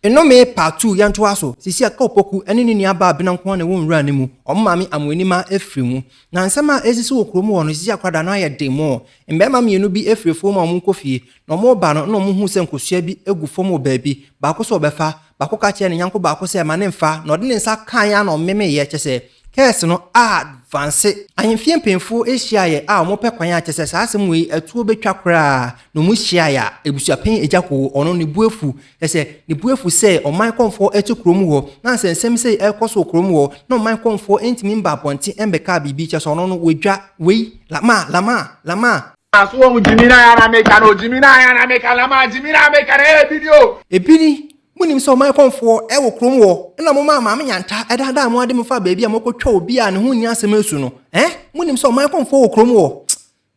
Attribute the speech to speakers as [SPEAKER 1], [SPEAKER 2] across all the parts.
[SPEAKER 1] Nnome paatuu yɛn toa so. Seesei a Kaopoku ne ne nua baa Bena nko ara na ɛwɔ nwura no mu, wɔn maame Amoanima afiri mu. Na nsɛm a ɛresisi wɔ kurom hɔ no, seesei akwadaa no ayɛ den mɔɔ. Mmarima mmienu bi firi afuom a wɔrekɔ fie, na wɔreba no na wɔhuu sɛ nkosua bi gu fam wɔ baabi. Baako sɛ ɔbɛfa. Baako ka kyerɛɛ ne yɔnko baako sɛ, Ma no mfa, na ɔde ne nsa kaeɛ ara na ɔmemeeɛ, kyerɛ sɛ, curse no advance. Ahemfie mpanyimfo hyiaeɛ a wɔpɛ kwan a kyerɛ sɛ saa asɛm wei atuo bɛtwa koraa, na wɔhyiaeɛ a, abusuapanyin Agya Koo, ɔno, ne bo afu, Na sɛ ne bo afu sɛ ɔman kɔmfoɔ reto kuro mu hɔ, na sɛ nsɛm sei rekɔ so wɔ kuro mu hɔ, na ɔman kɔmfoɔ ntumi mba abɔnten mmɛkaa biribi, kyerɛ sɛ ɔno no, wɔadwa. Wei, Lama, Lama, Lama. So woahu gyimina a na meka no? Gyimina a na meka, Lama, gyimina a meka no, ɛyɛ ebi ni o. Ebi ni. Monim sɛ ɔman kɔmfoɔ wɔ kuro mu hɔ, ɛna momaa Maame Nyanta daadaa mo de mo faa baabi a moakɔtwa obi a ne ho nni asɛm asu no? Ɛɛ? Monim sɛ ɔman kɔmfoɔ wɔ kuro mu hɔ?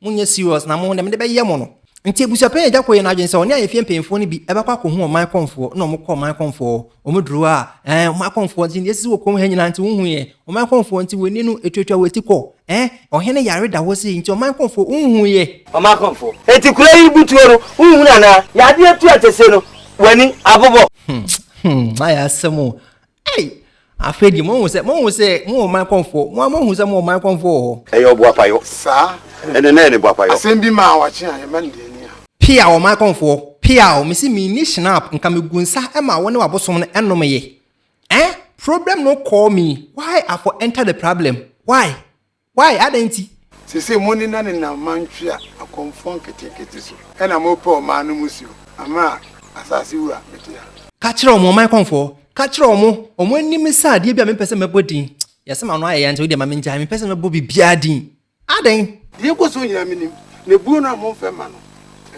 [SPEAKER 1] Monyɛ serious na mo na mede bɛyɛ mo no. Nti abusuapanyin agya kɔ yɛ n'adwene sɛ ɔne ayefie mpanyinfoɔ no bi bɛkɔ akɔhu ɔman kɔmfoɔ na wɔkɔɔ ɔman kɔmfoɔ hɔ. Wɔn duru hɔ a, ɛɛ ɔman kɔmfoɔ nti yɛsisi wɔ kurom ha nyinaa nti wonhu yɛn. Ɔman kɔmfoɔ nti w'ani no etuatua w'ati kɔ. Ɛɛ ɔhene yare da hɔ sei nti ɔman kɔmfoɔ wonhu yɛ. Ɔman kɔmfoɔ enti kura yi bu tuo no wonhunu anaa? Yadeɛ tu atɛsie no w'ani abobɔ. Hmm hmm ayɛ asɛm o. Ei! Afei deɛ moahu sɛ, moahu sɛ mowɔ man kɔmfoɔ, mo ara moahu sɛ mowɔ man kɔmfoɔ wɔ hɔ. Ɛyɛ ɔboapayɔ. Saa. Ɛnɛ na ɛyɛ ne boapayɔ. Asɛm bi maa wakye a, yɛmma no deɛ ani a. Peaw ɔman kɔmfoɔ, peaw, mese menni Schnapp, nka megu nsa ma wo ne w'abosom no nnom ye. Eh? Problem no call me, why I for enter the problem, why? Wai? Adɛn nti? Seesei monenanenam mantwea akɔmfoɔ nketenkete so, ɛna morepɛ ɔman no mmusuo, amena a asase wura mete ha. Ka kyerɛ wɔn, ɔman kɔmfoɔ, ka kyerɛ wɔn, wɔn ani me sɛ adeɛ bi a mempɛ sɛ mɛbɔ din, yɛse m'ano ayɛ ya nti wodeɛ ma mengyae, mempɛ sɛ mɛbɔ biribiara din. Adɛn? Deɛ ɛkɔ soɔ nyinaa menim, na buo no a momfɛ mma no,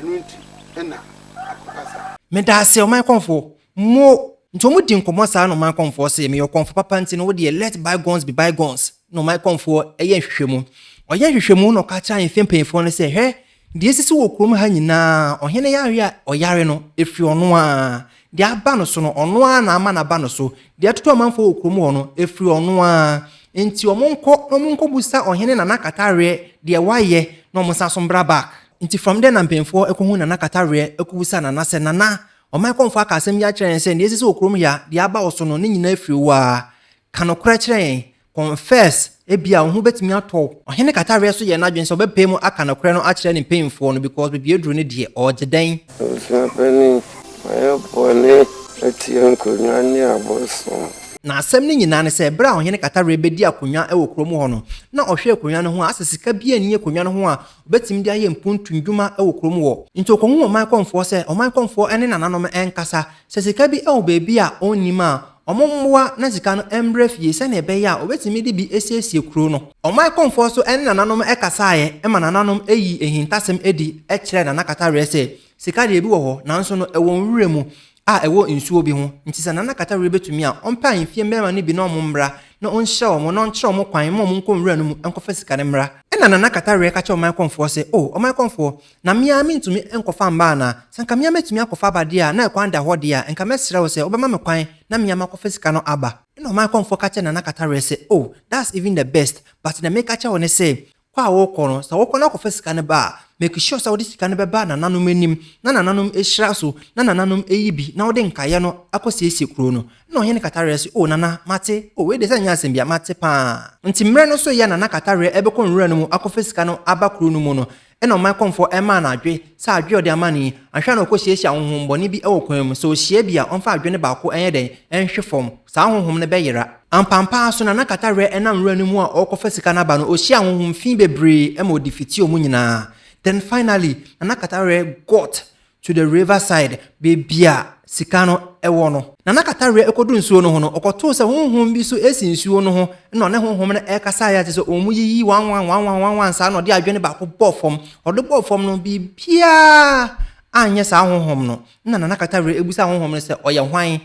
[SPEAKER 1] ɛno nti na akɔka saa. Medaaseɛ, ɔman kɔmfoɔ, mo. Nti wɔdi nkɔmmɔ saa na ɔman kɔmfoɔ se, meyɛ ɔkɔmfo papa nti no wodeɛ let bygones be bygones. na ɔman kɔmfoɔ yɛ nhwehwɛmu. Ɔyɛ nhwehwɛmu na ɔka kyerɛ ahemfie mpanyinfoɔ no sɛ, hwɛ, deɛ asisi wɔ kurom ha nyinaa, ɔhene yareɛ a ɔyare no, ɛfiri ɔno ara, deɛ aba no so no, ɔno ara na ama no aba no so, deɛ ɛtoto amanfoɔ wɔ kurom hɔ no, ɛfiri ɔno ara. Enti wɔnkɔ na wɔnkɔbusa ɔhene Nana Kataweɛ deɛ wayɛ na wɔnsan nso mbra back. Nti from there na mpanyinfoɔ kɔhuu Nana Kataweɛ kɔbusaa Nana sɛ, Nana, ɔman kɔmfoɔ aka asɛm yi akyerɛ yɛn sɛ deɛ asisi wɔ kurom ha, deɛ aba wo so no, ne nyinaa firi wo ara. Ka nokorɛ kyerɛ yɛn. Confess, ebia wo ho bɛtumi atɔ wo. Ɔhene Kataweɛ so yɛɛ n'adwene sɛ ɔbɛpae mu aka nokorɛ no akyerɛ ne mpanyimfoɔ no because baabi aduru no deɛ, ɔregye dɛn? Abusua panin, mayɛ bɔne atia nkonnwa ne abosom. Na asɛm no nyinaa ne sɛ, berɛ a Ɔhene Kataweɛ bɛdii akonnwa wɔ kurom hɔ no, na ɔhwɛɛ akonnwa no ho a, asɛ sika biara nni akonnwa no ho a ɔbɛtumi de ayɛ mpuntu nnwuma wɔ kurom hɔ. Nti ɔkɔhuu ɔman kɔmfoɔ sɛ ɔman kɔmfoɔ ne nananom nkasa sɛ sika bi wɔ baabi a ɔnnim a, Wɔn mmoa ne sika no mmra fie sɛnea ɛbɛyɛ a wɔbɛtumi de bi asiesie kuro no. Wɔn akomfoɔ nso ne nananom kasaeɛ ma nananom yii ahintasɛm adi kyerɛɛ Nana Kataweɛ sɛ, Sika deɛ ebi wɔ hɔ, nanso no ɛwɔ nwura mu a ɛwɔ nsuo bi ho, nti sɛ Nana Kataweɛ bɛtumi a, ɔmpɛ ahemfie mmarima no bi na wɔn mmra na ɔnhyira wɔn na ɔnkyerɛ wɔn kwan mma wɔn nkɔ nwura no mu nkɔfa sika no mmra. Ɛnna Nana Kataweɛ ka kyerɛɛ wɔn akomfoɔ sɛ, O ɔman akomfoɔ, Na me ara mintumi nkɔfa mma anaa? Sɛ anka me ara metumi akɔfa aba de a, na ɛkwan da hɔ de a, anka mɛsrɛ wo sɛ wobɛma me kwan na me ara makɔfa sika no aba. Ɛnna ɔman kɔmfoɔ ka kyerɛɛ Nana Kataweɛ sɛ, Oh, that's even the best, but deɛ mereka akyerɛ wo ne sɛ, kɔ a worekɔ no, sɛ wokɔ na wokɔfa sika no ba a, make sure sɛ wode sika no bɛba nananom anim na nananom ahyira so na nananom ayi bi na wode nkaeɛ no akɔsiesie kuro no. Ɛnna Ɔhene Kataweɛ se, Oh, Nana, mate. Oh, wei deɛ sɛ ɛnyɛ asɛm bi a, mate pa ara. Enti mmerɛ no so yɛ a Nana Kataweɛ rebɛkɔ nwura no mu akɔfa sika no aba kuro no mu no, Ɛnna ɔman kɔmfoɔ ɛmmaa no adwe sɛ adwe a ɔde ama no yi, anhwɛ a na ɔkɔhyiahyia honhommɔne bi wɔ kwan mu, sɛ ɔhyia bi a, ɔmfa adwe no baako nyɛ dɛn? nhwe fam. Saa honhom no bɛyera. Ampampaa ara so, na na Katawerɛ nam nwura no mu a ɔrekɔfa sika no aba no, ɔhyiaa honhom fi bebree ma ɔde fitii wɔn nyinaa. Then finally, Nana Katawerɛ got to the river side, baabi a sika no wɔ no. Na na kataweɛ ɛkɔdu nsuo no ho no, ɔkɔtoo sɛ honhom bi so ɛsi nsuo no ho, na ɔne honhom no ɛkasa ayɛ te sɛ wɔn yiyi wanwan wanwan wanwan saa na ɔde adwene baako bɔɔ fam. Ɔde bɔɔ fam no, biribiara anyɛ saa honhom no. Na Nana Kataweɛ ɛbusaa honhom no sɛ, ɔyɛ hwan?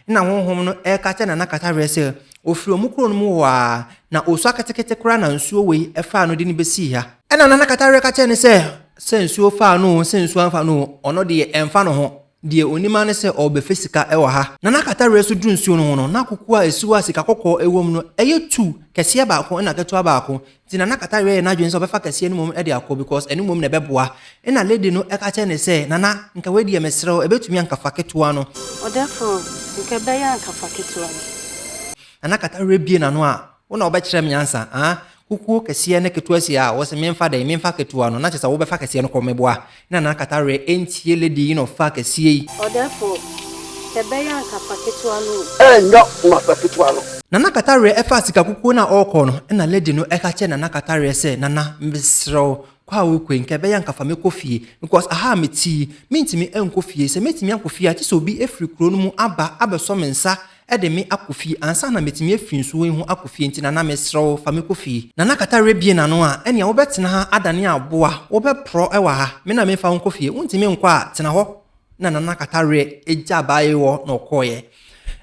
[SPEAKER 1] Nna honhom no reka kyerɛ Nana Kataweɛ sɛ ɔfiri wɔn kuro no mu hɔ ara, na ɔresua ketekete koraa na nsuo wei faa no de no bɛsii ha. Ɛnna Nana Kataweɛ ka kyerɛɛ no sɛ, sɛ nsuo faa no oo, sɛ nsuo amfa no oo, ɔno deɛ ɛmfa ne ho, deɛ ɔnim ara ne sɛ ɔrebɛfa sika wɔ ha. Nana Kataweɛ nso duruu nsuo no ho no, na kukuo a ɛsi hɔ a sika kɔkɔɔ wɔ mu no yɛ tuu, kɛseɛ baako na ketewa baako. Nti na na Kata reyɛ n'adwene sɛ ɔbɛfa kɛseɛ no mmom de akɔ because ɛno mmom na ɛbɛboa. Ɛna lady no ka kyerɛɛ no sɛ, Nana, nka wei deɛ mesrɛ wo, ɛbɛtumi a nka fa ketewa no. Ɔdɛforo, nka ɛbɛyɛ a nka fa ketewa no. Nana Kata rebue n'ano a, Wo na wobɛkyerɛ me ansa, ah? Kukuo kɛseɛ ne ketewa si a, wose memfa dɛn? Memfa ketewa no, na kyerɛ sɛ wobɛfa kɛseɛ no kɔ, meboa. Na na kata werɛ ɛntie lady yi na ɔfaa kɛseɛ yi. Ɔdɛfo, kɛ bɛyɛ anka fa ketewa no o. Ɛnyɛ ma fa ketewa no. Nana kata werɛ ɛfaa sika kukuo no a ɔɔkɔ no ɛna lady no ɛka kyerɛ nana kata werɛ sɛ nana mesrɛ wo kɔ a wokɔ yi kɛ bɛyɛ anka fa mɛkɔ fie because aha a mete yi mentumi nkɔ fie sɛ mɛtumi akɔ fie a gye sɛ obi firi kuro no mu aba abɛsɔ me nsa de me akɔ fie ansa na metumi afi nsuo yi ho akɔ fie nti Nana mesrɛ wo fa me kɔ fie. Nana kata werɛ bie n'ano a ɛnea wobɛtena ha adane aboa wobɛporɔ wɔ ha me na memfa wo nkɔ fie wontumi nkɔ a tena hɔ na Nana kata werɛ gya abaayewa hɔ na ɔkɔeɛ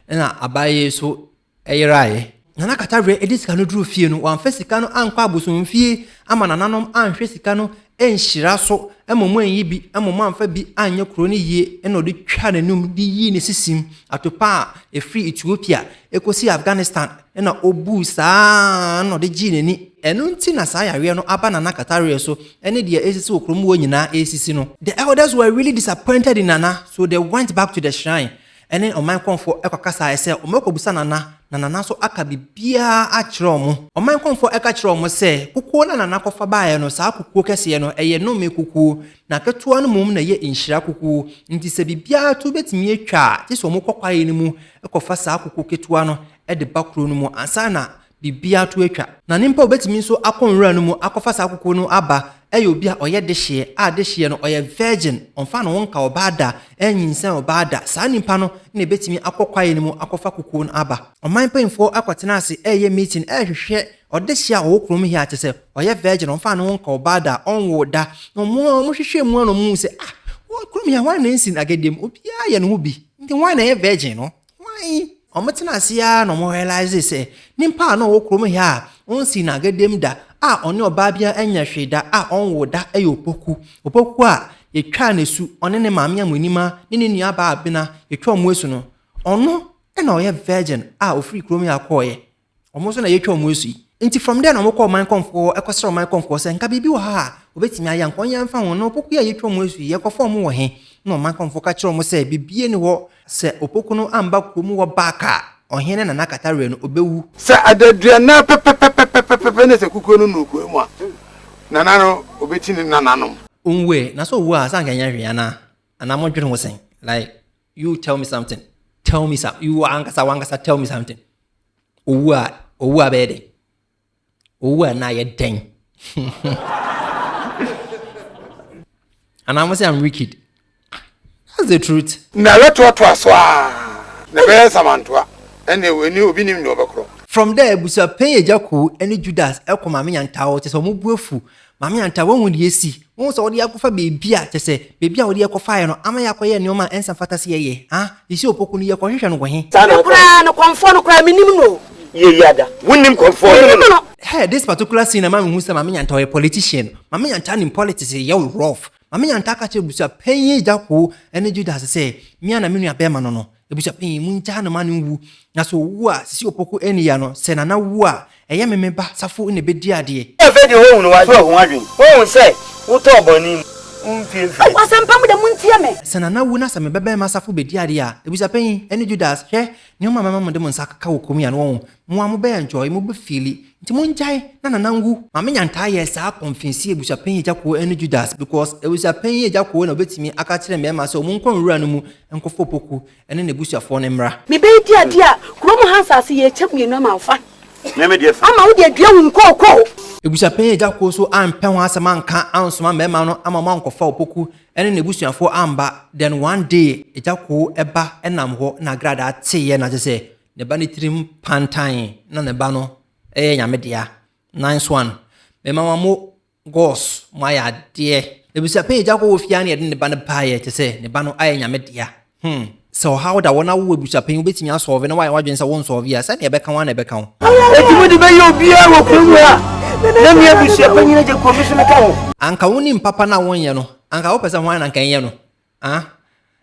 [SPEAKER 1] ɛna abaayewa yi nso yeraeɛ. Nana Katawere de sika no duruu fie no, wamfa sika no ankɔ abosomfie ama nananom anhwɛ sika no anhyira so, mmom anyi bi, mmom amfa bi anyɛ kuro no yie na ɔde twaa n'anum de yii ne sisim atopa a ɛfiri Ethiopia kɔsi Afghanistan na ɔbuu saa ara na ɔde gyee n'ani. Ɛno nti na saa yareɛ no aba Nana Katawere so ne deɛ ɛresisi wɔ kurom hɔ nyinaa resisi no. The elders were really disappointed in Nana, so they went back to the shrine. ɛne ɔman kɔmfo kɔkasae sɛ wɔbɛkɔbisa Nana na Nana nso aka biribiara akyerɛ wɔn. Ɔman kɔmfo ka kyerɛɛ wɔn sɛ kukuo no a Nana kɔfa baeɛ no, saa kukuo kɛseɛ no, ɛyɛ nnome kukuo, na ketewa no mmom na ɛyɛ nhyira kukuo, enti sɛ biribiara to bɛtumi atwa a, gye sɛ wɔkɔ kwaeɛ no mu kɔfa saa kukuo ketewa no de ba kuro no mu ansa na Biribiara to atwa. Na ne mpa obetumi nso akɔ nwura no mu akɔfa saa kukuo no aba yɛ obi a ɔyɛ dehyeɛ a dehyeɛ no ɔyɛ virgin, ɔmfa ne ho nka ɔbaa da, ɛnnyinsɛn ɔbaa da, saa nipa no na ebetumi akɔ kwaeɛ no mu akɔfa kukuo no aba. Ɔman mpanyinfoɔ akɔtena ase reyɛ meeting rehwehwɛ ɔdehyeɛ a ɔwɔ kurom he a kyerɛ sɛ ɔyɛ virgin, ɔmfa ne ho nka ɔbaa da, ɔnwoo da, na wɔn ara wɔhwehwɛɛ mu ara na wɔhuu sɛ ah, wɔ kurom he a hwan na ensin Agadie mu? Obiara yɛ ne ho bi, nti hwan na ɛyɛ virgin no? Hwan? Wɔtena ase ara na wɔn realisee sɛ nyimpa a na ɔwɔ kurom ha a onnsii n'agadam da a ɔnye ɔbaa biara annya hwee da a ɔnnwoo da yɛ Opoku. Opoku a yetwaa no esu, ɔne ne maame Amuenima ne ne nuabaa Abena yetwaa wɔn esu no, ɔno na ɔyɛ virgin a ofiri kurom ha kɔɔɛ Wɔn nso na yɛatwa wɔn asu yi. Nti from there na wɔkɔ ɔman kɔmfoɔ ɛkɔsrɛ ɔman kɔmfoɔ sɛ nka biribi wɔ ha a wɔbɛtumi ayɛ anka wɔnyɛ mfa ho. Na opoku yi a yɛatwa wɔn asu yi yɛkɔfa wɔn wɔ he? Na ɔman kɔmfoɔ ka kyerɛɛ wɔn sɛ biribiara nni hɔ. Sɛ opoku no amba kurom hɔ back a, ɔhene ne n'akatawerɛ no, ɔbɛwu. Sɛ adaduannan pɛpɛpɛpɛpɛpɛpɛ na sɛ kukuo no nnuu kɔɛ mu a, nana no ɔbɛkyi ne nananom. Ɔnwuɛ. Na sɛ ɔwu a, sɛ anka ɛnyɛ hwee anaa? Anaa modwene ho sɛn? Like. You tell me something. Tell me something. You ankasa wankasa tell me something. Owu a owu a bɛyɛ dɛn? Owu a na yɛ dɛn? Anaa mo sɛ I'm wicked. That's the truth. Na yɛtoatoa so a na ɛbɛyɛ nsamantoa ɛne ɛni obi nim ne ɔbɛkorɔ. From there abusua pɛn agya koo ɛne Judas ɛkɔ maame nyantawo kyɛ sɛ ɔmo bu afu Maame Antaa, woahu deɛ asi? Wohu sɛ wode yɛn akɔfa baabi a, kyerɛ sɛ, baabi a wode yɛn kɔfaeɛ no ama yɛakɔyɛ nneɛma a ɛnsa mfata sɛ yɛyɛ? Ha? Yisio Opoku no, yɛkɔhwehwɛ no wɔ he? Saa na ɔkae. Me koraa no, Kɔmfoɔ no koraa, mennim no o. Yei ada. Wonnim Kɔmfoɔ no? Mennim no. Hɛ! This particular scene ɛma mehu sɛ Maame Nyantaa ɔyɛ politician. Maame Nyantaa nim politics yɛ wo rough. Maame Nyantaa ka kyerɛɛ abusua panyin Agya Koo ne Judas sɛ, me ara na me nuabɛrima no no. Ebusua panyin, mungyaa no ma no nwu. Na sɛ owu a, Sisi Opoku anni ya no. Sɛ Nana wu a, ɛyɛ me me ba Safo na ebedi adeɛ. Afei deɛ woahu no, woadwene ho adwene. Woahu sɛ wotɔɔ bɔne mu. Wo mfeɛmfeɛ. Wɔ asɛmpa mu de, montie me. Sɛ Nana wu na sɛ me babarima Safo bedi adeɛ a, Ebusua panyin, ɛne Judas, hwɛ, nneɛma a mɛma mode mo nsa akeka wɔ kurom yi a, na wɔahu. Mo a mobɛyɛ ntwɔɔe, mobɛfiili. Nti mongyae na Nana nwu. Maame Nyantaa yɛɛ saa kɔnfensi abusuapanyin Agya Koo ɛne Judas because abusuapanyin Agya Koo na ɔbɛtumi aka akyerɛ mmarima sɛ wɔn nkɔ nwura no mu nkɔfa Opoku ɛne n'abusuafoɔ no mmra. Me ba yi di ade a, kuro mu ha nsaase yɛ ɛkyɛ mmienu ama wo fa. Me me deɛ fa. Ama wo deɛ dua wo nkookoo. Abusuapanyin Agya Koo nso ampɛ ho asɛm anka ansoma mmarima no ama wɔn ankɔfa Opoku ɛne n'abusuafoɔ amba, then one day Agya Koo ɛba ɛnam hɔ na Agradaa teeɛ na kyerɛ sɛ Ne ba no tirim pantan na ne ba no yɛ nyame dea. Nice one. Me mama mo gos mo ayɛ adeɛ. Ebisa pɛn agya kɔ wɔ fie ne yɛde ne ba no baayɛ te sɛ ne ba no ayɛ nyame dea. Hmm. Sɛ ɔhaw da wɔ na wo abusua pɛn wobɛtumi asɔɔve na woayɛ w'adwene sɛ wonsɔɔve a, sɛdeɛ ɛbɛka wo ara na ɛbɛka wo. Enti mode bɛyɛ obiara wɔ kurom ha na me abusua panyin agya Kofi so meka ho. Anka wonim papa no a wonyɛ no, anka wopɛ sɛ hwan na anka ɛnyɛ no? Ah,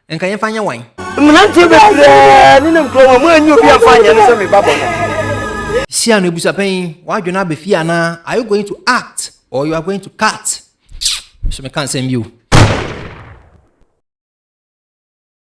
[SPEAKER 1] nka yɛmfa nyɛ wan? Mmeranteɛ bebree ne ne nkurom a moanyi obi amfa anyɛ no sɛ me ba bɔ no. Hyia no abusuapɛn yi, w'adwene abɛ fie anaa? Are you going to act or you are going to cut? So meka nsɛm bi o.